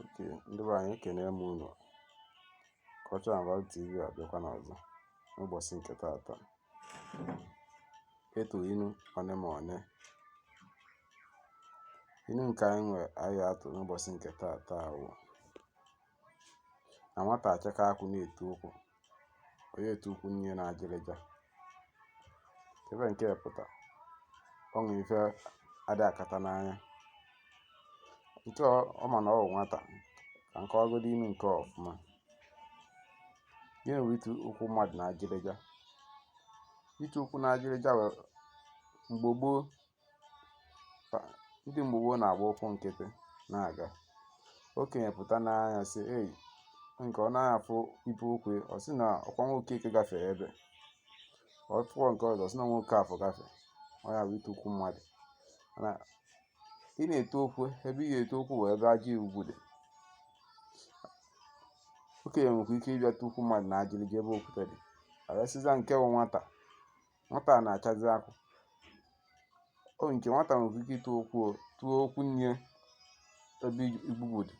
oke ndị be anyị ekene m unu Culture and Value TV abịakwana ọzọ n'ụbọsị nke taata ịtụ inu one ma one inu nke anyị nwe anyị ya-atụ n'ụbọsị nke taata wụ na nwata achaka akwụ na-etu ụkwụ onye etu ụkwụ nne ya na ajịrịja ife nke a pụta ọ nwere ife ada akata n'anya nkịtị mana ọ bụ nwata ka m kọwagodi inu nke ọfụma gịnị bụ itu ụkwụ mmadụ na ajịrịja itu ụkwụ na ajịrịja bụ mgbe gboo ndị mgbe gboo na-agba ụkwụ nkịtị na-aga okenye pụta nee anya sị ei nke ọ naghị afụ ibe ụkwụ ọ sị na ọkwa Nwokeke gafee ebe o tuo nke ọzọ ọ sị na Nwokafọ gafee ọ ya bụ itu ụkwụ mmadụ mana ị na-etu ụkwụ ebe ị ga-etu ụkwụ wụ ebe aja ugwu dị okenye nwekwa ike ịbịa tu ụkwụ mmadụ na ajịrịja ebe okwute dị arasịza nke bụ nwata nwata a na-achazi akwụ oke nwata nwere ike itu ụkwụ o tuo ụkwụ nne ebe igbugbu dị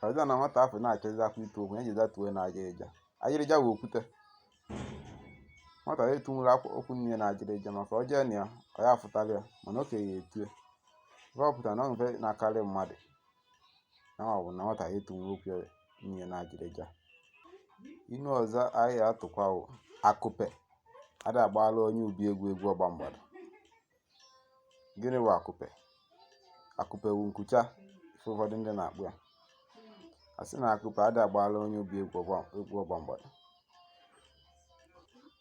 ọbịa na nwata afụ na-achazi akwụ itu ụkwụ ya jeza tuo na ajịrịja ajịrịja bụ okwute nwata ya etunwuru ụkwụ nne ya na ajịrịja maka ọ jee na ya ọ ya afụtara ya mana okenye ya etue ife ọ pụtara na ife na-akarị mmadụ na ọ bụ na nwata ya etunwu ụkwụ nne ya na ajịrịja inu ọzọ anyị atụkwa bụ akụpe ada agbara onye ubi egwu egwu ọgba mgbada gịnị bụ akụpe akụpe wu nkucha ife ụfọdụ ndị na-akpọ ya a sị na akụpe ada agbara onye ubi egwu ọgba mgbada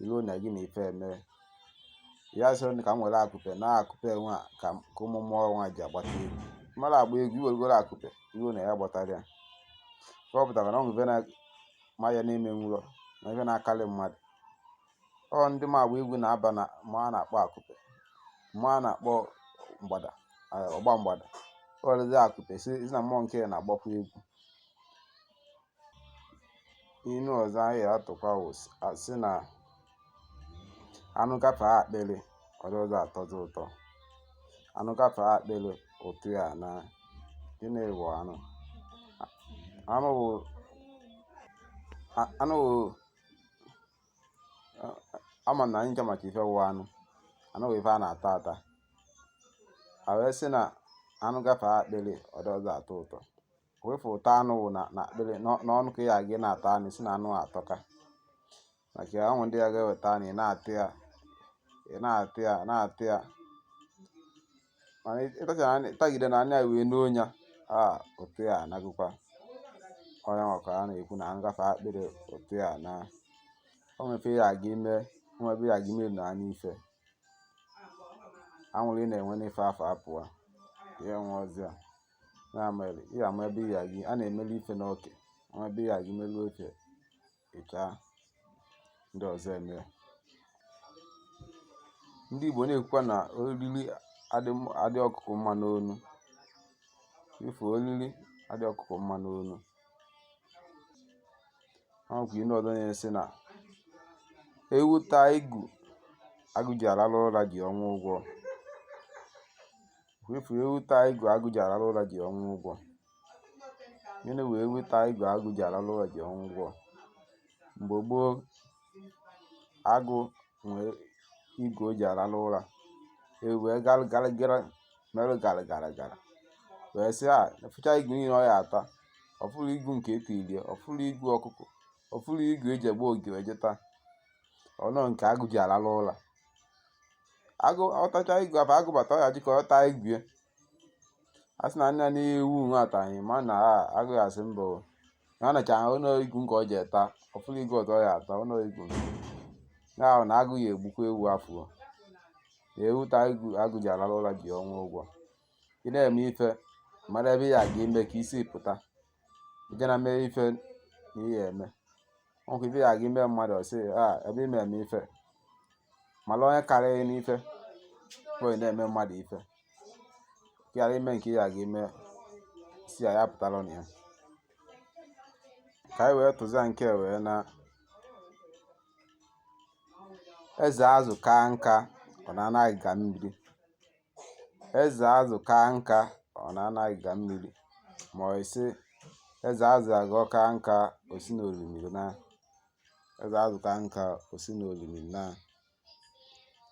i lo na gị na ife eme ya sịrị ka m were akụpe na akụpe nwa ka ụmụ mmụọ nwa ji agbata egwu mara agba egwu i werugoro akụpe i lo na ya gbatara ya ka ọ pụtara na ọ nwebe na ma ya na-eme nwụrọ na ife na-akarị mmadụ ọ ndị ma agba egwu na-aba na mmụọ a na-akpọ akụpe mmụọ a na-akpọ mgbada ọgba mgbada o werezi akụpe si na mmụọ nke na-agbakwa egwu inu ọzọ anyị atụkwa wụ a sị na anụ gafe akpịrị ọ dịrọza atọzi ụtọ anụ gafe akpịrị ụtọ ya anaa gịnị bụ anụ anụ bụ a- anụ bụ a- ama m na anyị ncha macha ife wụ anụ anụ bụ ife a na-ata ata a wee sị na anụ gafe akpịrị ọ dịrọza atọ ụtọ wee fụ ụtọ anụ wụ na na akpịrị n'ọ- n'ọnụ ka ị ga-aga ị na-ata anụ si na anụ a atọka maka ya o nwere ndị ya ga-eweta anụ ị na-ata ya ị na-ata ya na-ata ya mana ị- ịtachara anụ- ịtagide na anụ ya wee nuo ya a ụtọ ya anagụkwa ọ ya wụ ka a na-ekwu na anụ gafee akpịrị ụtọ ya ana o nwere ife ya aga ime o nwere ebe ya aga ime na anụ ife anwụrị ị na-enwe n'ife afụ apụwa ya enwe ọzọ ya ya mere ị ga-ama ebe ị ga-agị a na-emeli ife n'oke ama ebe ị ga-agị melu oke ịchaa ndị ọzọ eme ya. ndị igbo na-ekwukwa na oriri adị m- adị ọkụkọ mma n'onu ife oriri adị ọkụkọ mma n'onu ọkwa ihe ọzọ na-esi na ewu taa igu agụ ji arara ụra ji ọnwụ ụgwọ Wepụ ewu taa igu agụ ji arara ụra ji ọnwụ ụgwọ. Gịnị wụ ewu taa igu agụ ji arara ụra ji ọnwụ ụgwọ? Mgbe gboo, agụ nwee igu o ji arara ụra. Ewu wee gara gara gara merụ gara gara gara. Wee sị a fụcha igu niile ọ ya ata. Ọ fụrụ igu nke etirie, ọ fụrụ igu ọkụkọ, ọ fụrụ igu eji egbo ogige eje taa. Ọ nọ nke agụ ji arara ụra. agụ ọ tacha igu afụ agụ bata ọ ya ji ka ọ taa igu ya sị na nna na-ewu nwe ataghị mana agụ ya asị mba o na ọ nacha ọ nọ igu nke ọ ji eta ọ fụrụ igu ọzọ ya ata ọ nọ igu ya wụ na agụ ya egbukwa ewu afụ ewu ta igu agụ ji alala ụla ji ọnwụ ụgwọ ị na-eme ife mara ebe ya ga ime ka isi pụta ị ya na-eme ife na ị ya eme ọkwa ife ya aga ime mmadụ ọ sị a ebe ime eme ife mara onye karịrị n'ife bụ onye na-eme mmadụ ife ka ghara ime nke ya aga ime si ya ya pụtara na ya ka anyị wee tụzia nke wụ na eze azụ kaa nka ọ naa n'agiga mmiri eze azụ kaa nka ọ naa n'agiga mmiri ma ọ sị eze azụ agọ kaa nka o si na orimiri naa eze azụ kaa nka o si na orimiri naa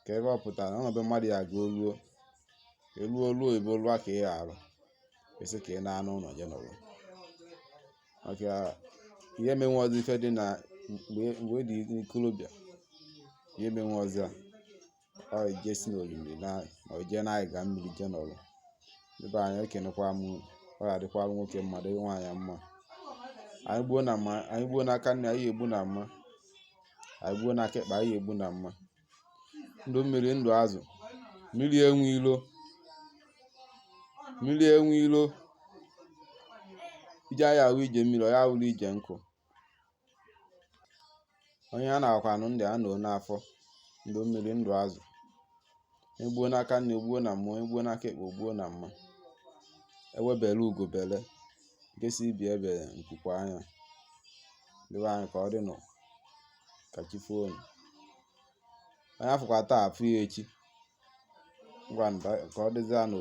ka ebe ọ pụtara ọnọdụ mmadụ ya aga oluo eluo oluo ebe olua ka ị arụ esi ka ị naa n'ụlọ je nọrọ maka ị ya-emenwu ọzọ ife dị na mgbe ị dị n'ikolobịa ị ya-emenwu ọzọ a ọ ije si n'orimiri na ma o jee n'anyị ga mmiri jee n'ọrụ ibe anyị ekenekwa m ọ ga-adịkwara nwoke mma dịrị nwaanyị mma anyị gbuo n'aka nni anyị egbuo na mma anyị gbuo n'aka ekpe anyị egbuo na mma ndụ mmiri ndụ azụ mmiri enwe ilo mmiri enwe ilo ije anyị awụ ije mmiri ọ ya awụrụ ije nkụ onye a na-akwa anụ ndị a nọ n'afọ ndụ mmiri ndụ azụ egbuo n'aka nni egbuo na mma egbuo n'aka ekpe egbuo na mma egbe bere ugo bere nke sị ibe ya ebela nku kwaa ya ndị be anyị ka ọ dị nụ ka chi foo unu onye afụkwa taa afụ ya echi ngwa ka ọ dịzịa nụ